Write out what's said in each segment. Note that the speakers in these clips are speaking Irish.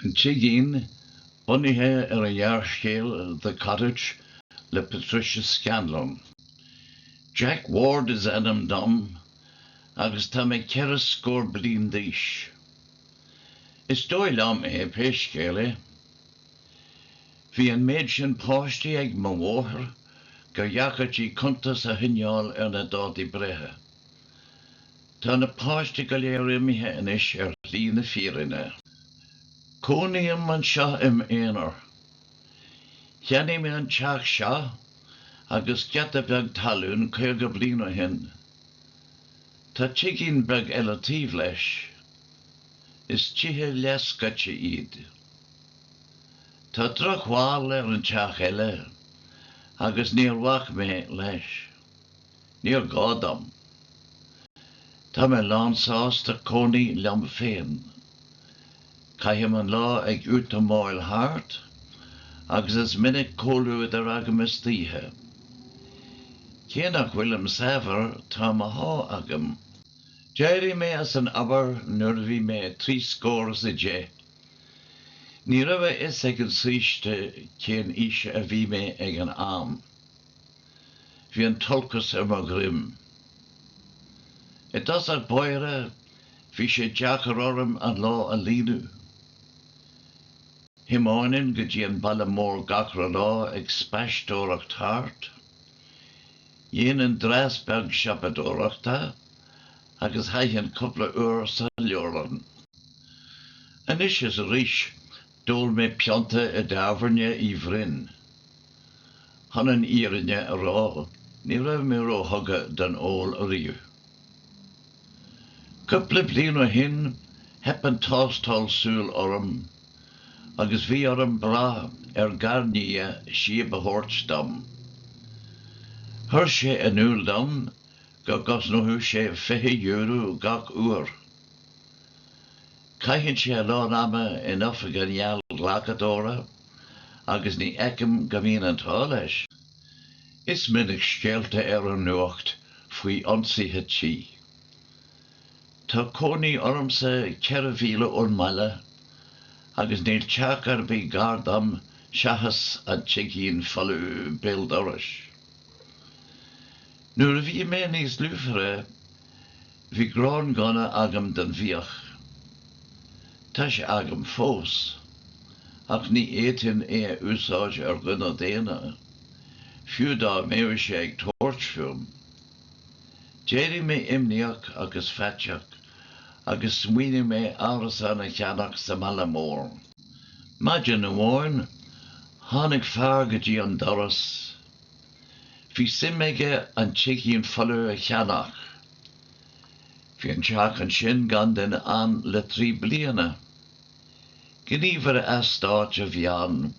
An Tigín, bunaithe ar an ghearrscéal 'The Cottage' le Patricia Scanlon. Jack Ward is ainm dom agus tá mé ceithre scór bliain d'aois. Is dóigh liom é, pé scéal é. Bhí an méid sin páistí ag mo mháthair gur dheacair di cuntas a choinneáil ar na dátaí breithe. Tá na páistí go léir imithe anois ar shlí na fírinne. Cónaím anseo i m'aonar. Cheannaigh mé an teach seo agus giota beag talún caoga bliain ó shin. Tá tigín beag eile taobh leis. Is tithe leathscoite iad. Tá drochbhail ar an teach eile agus níor bhac mé leis. Níor ghá dom. Tá mé lánsásta cónaí liom féin. Caithim an lá ag útamáil thart agus is minic comhluadar agam istoíche. Cé nach bhfuilim saibhir tá mo sháith agam. D'éirigh mé as an obair nuair a bhí mé trí scór is a deich. Ní raibh a fhios ag an saoiste cén aois a bhí mé ag an am. Bhí an t-olcas ar mo dhroim. I dtosach báire bhí sé deacair orm an lá a líonadh. Thiomáininn go dtí an baile mór gach re lá ag spaisteoireacht thart. Dhéanainn dreas beag siopadóireachta agus chaithinn cúpla uair sa leabharlann. Anois is arís D'ól mé pionta i dTábhairne Uí Bhroin. Chun an fhírinne a rá, ní raibh mé ró-thugtha don ól ariamh. Cúpla bliain ó shin, theip an tástáil súl orm, agus bhí orm brath ar gharnia síob a thabhairt dom. Chuir sé in iúl dom go gcosnódh sé €20 gach uair. Caitheann sé a lán ama in oifig an gheallghlacadóra agus ní fheicim go mbíonn an t-ádh leis. Is minic scéalta ar an nuacht faoi ionsaithe tí. Tá cónaí ormsa ceithre mhíle ón mbaile agus níl teach ar bith gar dom seachas an tigín folamh béal dorais. Nuair a bhí mé níos lúfaire, Bhí gránghunna agam don bhfiach. Tá sé agam fós, ach ní fhéadfainn é a úsáid ar dhuine daonna, fiú dá mbeadh sé ag tabhairt fúm. D'éirigh mé imníoch agus faiteach agus smaoinigh mé árasán a cheannach sa mbaile mór. Maidin amháin, tháinig fear go dtí an doras. Bhí suim aige an tigín follamh a cheannach. Bhí an teach ansin gan duine ann le trí bliana. Gníomhaire eastáit a bhí ann,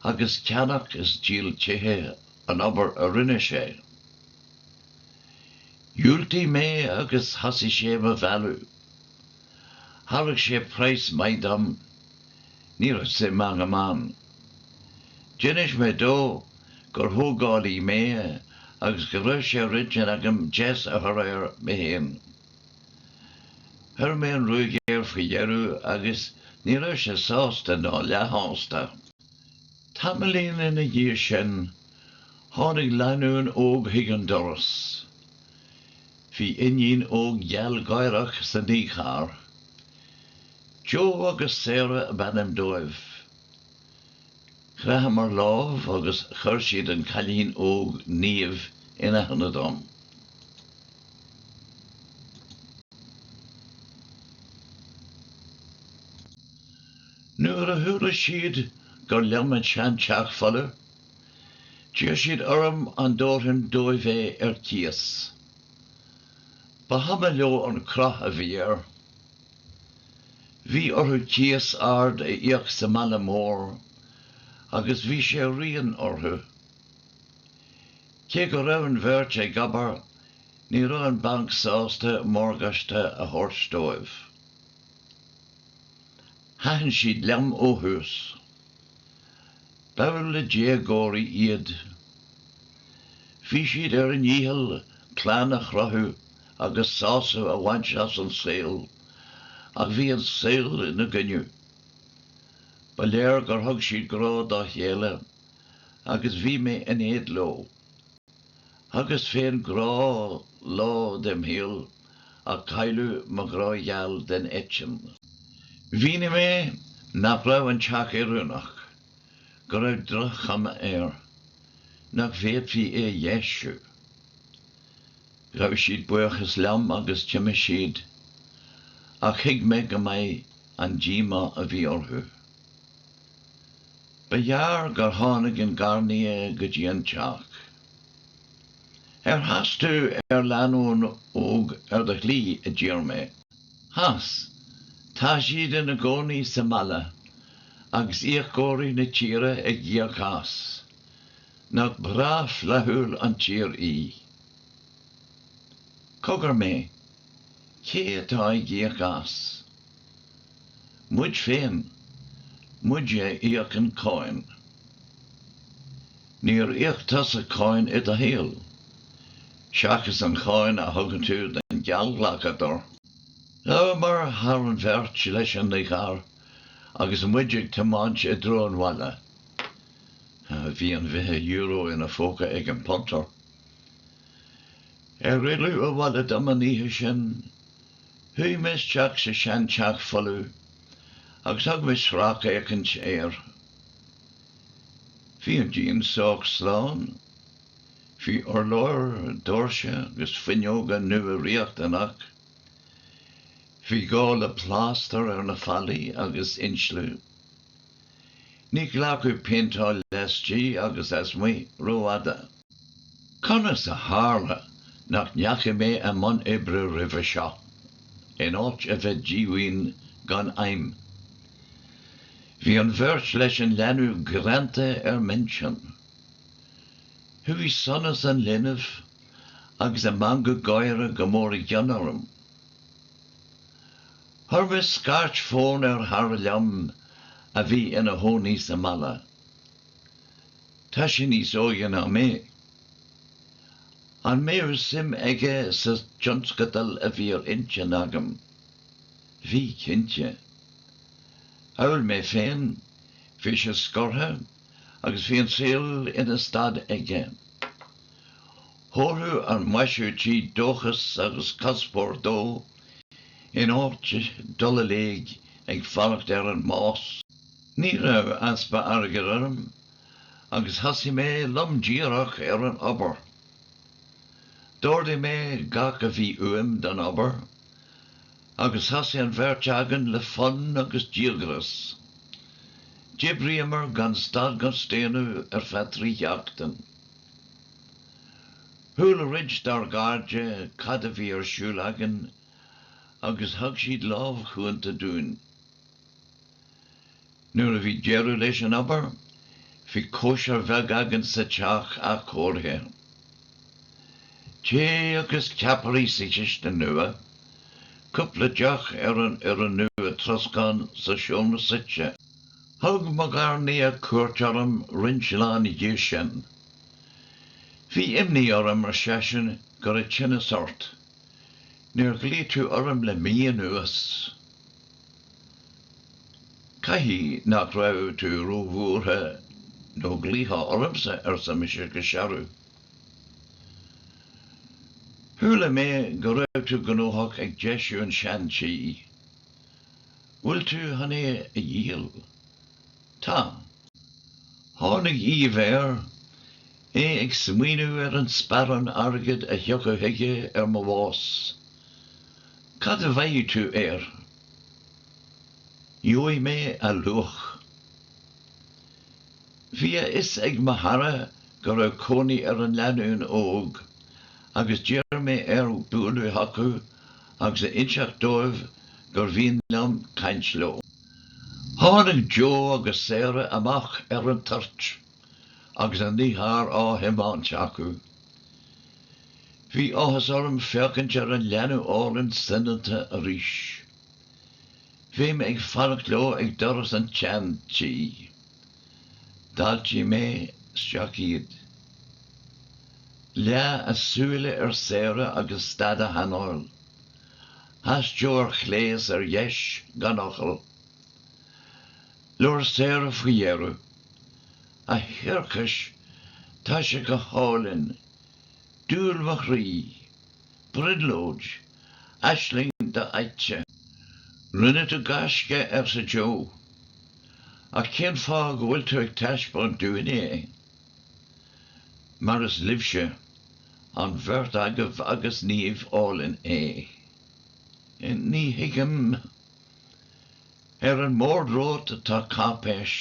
agus ceannach is díol tithe an obair a rinne sé. Dhiúltaigh mé agus thosaigh sé do mo mhealladh. Thairg sé praghas maith dom. Ní raibh suim agam ann. D'inis mé dó gur thógálaí mé agus go raibh sé ar intinn agam deis a chur air mé féin. Chuir mé an ruaig air faoi dheireadh agus ní raibh sé sásta ná leathshásta. Tamaillín ina dhiaidh sin, tháinig lánúin óg chuig an doras. Bhí iníon óg ghealgháireach sa naícharr. Joe agus Sarah ab ainm dóibh. Chraitheamar lámh agus chuir siad an cailín óg Niamh in aithne dom. Nuair a chuala siad gur liom an sean teach folamh, d'iarr siad orm an dtabharfainn dóibh é ar cíos. Ba chuma leo an cruth a bhí air. Bhí orthu cíos ard a íoc sa mbaile mór agus bhí sé dian orthu. Cé go raibh an bheirt ag obair ní raibh an banc sásta morgáiste a thabhairt dóibh. Thaitin siad liom ó thús. B'fhearr le déagóirí iad. Bhí siad ar a ndícheall clann a chruthú agus sásamh a bhaint as an saol, ach bhí an saol ina gcoinne. Ba léir gur thug siad grá dá chéile agus bhí mé in éad leo. Thugas féin grá lá dem shaol ach cailleadh mo ghrá-gheal den eitinn. Mhínigh mé nach raibh an teach oiriúnach go raibh droch-chuma air, nach bhféadfaí é a dheisiú. Ghabh siad buíochas liom agus d'imigh siad, ach thuig mé go maith an díomá a bhí orthu. Ba ghearr gur tháinig an garnia go dtí an teach. Ar chas tú ar lanúin óg ar do shlí? a d'iarr mé. Chas. Tá siad ina gcónaí sa mbaile, agus íocóirí na tíre ag íoc as. Nach breá flaithiúil an tír í. Cogar mé, cé atá ag íoc as? Muid féin, muide a íocann cáin. Níor íoc tusa cáin i do shaol, seachas an cháin a thugann tú don gheallghlacadóir. Ghabhamar thar an bheirt leis an gcarr agus muid ag tiomáint i dtreo an bhaile. Bhí an fiche euro ina phóca ag an bpuntar. Ar fhilleadh abhaile dom an oíche sin, shuigh mé isteach sa seanteach folamh agus thug mé sracfhéachaint air. Bhí an díon sách slán. Bhí urláir, doirse agus fuinneoga nua riachtanach. Bhí gá le plástar ar na fallaí agus insliú. Ní ghlacfadh péinteáil laistigh agus lasmuigh rófhada. Conas a tharla nach ndeachaigh mé i mbun oibre roimhe seo, in áit a bheith díomhaoin gan aidhm? Bhí an bheirt leis an leanbh greanta ar m'intinn. Chuaigh sonas an linbh agus a meangadh gáire go mór i gcion orm. Chuir mé scairt fóin ar chara liom a bhí ina chónaí sa mbaile. Tá sé níos óige ná mé. An mbeadh suim aige sa tionscadal a bhí ar intinn agam? Bhí, cinnte. Amhail mé féin, bhí sé scortha agus bhí an saol ina stad aige. Thabharfadh an maisiú tí dóchas agus cuspóir dó in áit dul i léig ag fanacht ar an mbás. Ní raibh easpa airgid orm agus thosaigh mé lom díreach ar an obair. D'ordaigh mé gach a bhí uaim don obair agus thosaigh an bheirt againn le fonn agus díogras. D'oibríomar gan stad gan staonadh ar feadh trí sheachtain. Chuala roinnt dár gcairde cad a bhí ar siúl againn agus thug siad lámh chúnta dúinn. Nuair a bhí deireadh leis an obair, bhí cóisir bheag againn sa teach athchóirithe. Tae agus ceapairí sa chistin nua, cúpla deoch ar an fhoireann nua troscáin sa seomra suite. Thug mo gharnia cuairt orm roinnt lá ina dhiaidh sin. Bhí imní orm, ar seisean, go raibh tinneas ort. Níor ghlaoigh tú orm le mí anuas. Caithfidh nach raibh tú róbhuartha nó ghlaofá ormsa, arsa mise go searbh. Chuala mé go raibh tú gnóthach ag deisiú an tseantí. Bhfuil tú chun é a dhíol? Tá. Tháinig aoibh air, é ag smaoineamh ar an sparán airgid a thiocfadh chuige ar mo bhás. Cad a bhfaighidh tú air? Gheobhaidh mé a luach. Bhí a fhios ag mo chara cá raibh cónaí ar an lánúin óg agus d'iarr mé air bualadh chucu agus a inseacht dóibh gur mhian liom caint leo. Tháinig Joe agus Sarah amach ar an toirt agus an t-iompróir á thiomáint acu. Bhí áthas orm féachaint ar an leanbh álainn soineanta arís. Bhí mé ag fanacht leo ag doras an tseantí. D'fháiltigh mé isteach iad. Leath a súile ar Sarah agus stad a hanáil. Sheas Joe ar a clé is ar a deis gan fhocal. Labhair Sarah faoi dheireadh. A thiarcais, tá sé go hálainn. Dúil mo chroí. Brionglóid. Aisling do-fhaighte. Rinne tú gaisce, arsa Joe. Ach cén fáth go bhfuil tú á thaispeáint dúinne é? Mar is libhse, an bheirt agaibh agus Niamh álainn, é. Ní thuigim. Ar an mbord romhat tá cáipéis.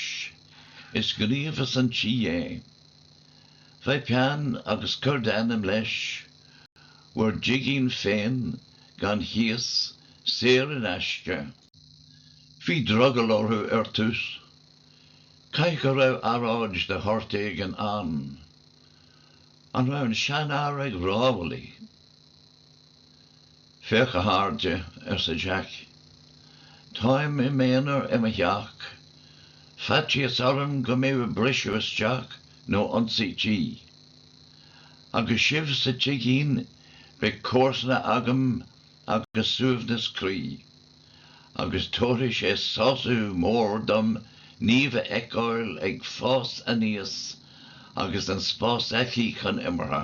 Is gníomhas an tí é. Faigh peann agus cuir d'ainm leis, bhur dtigín féin, gan chíos, saor in aisce. Bhí drogall orthu ar dtús. Caithfidh go raibh earráid de shórt éigin ann. An raibh an seanfhear ag rámhaillí? Féach, a chairde, arsa Jack, táim im aonar i mo theach, faitíos orm go mbeidh briseadh isteach nó ionsaí tí. Agus sibh sa tigín beidh comharsana agam agus suaimhneas croí. agus tabharfaidh sé sású mór dom Niamh a fheiceáil ag fás aníos agus an spás aici chun imirtha.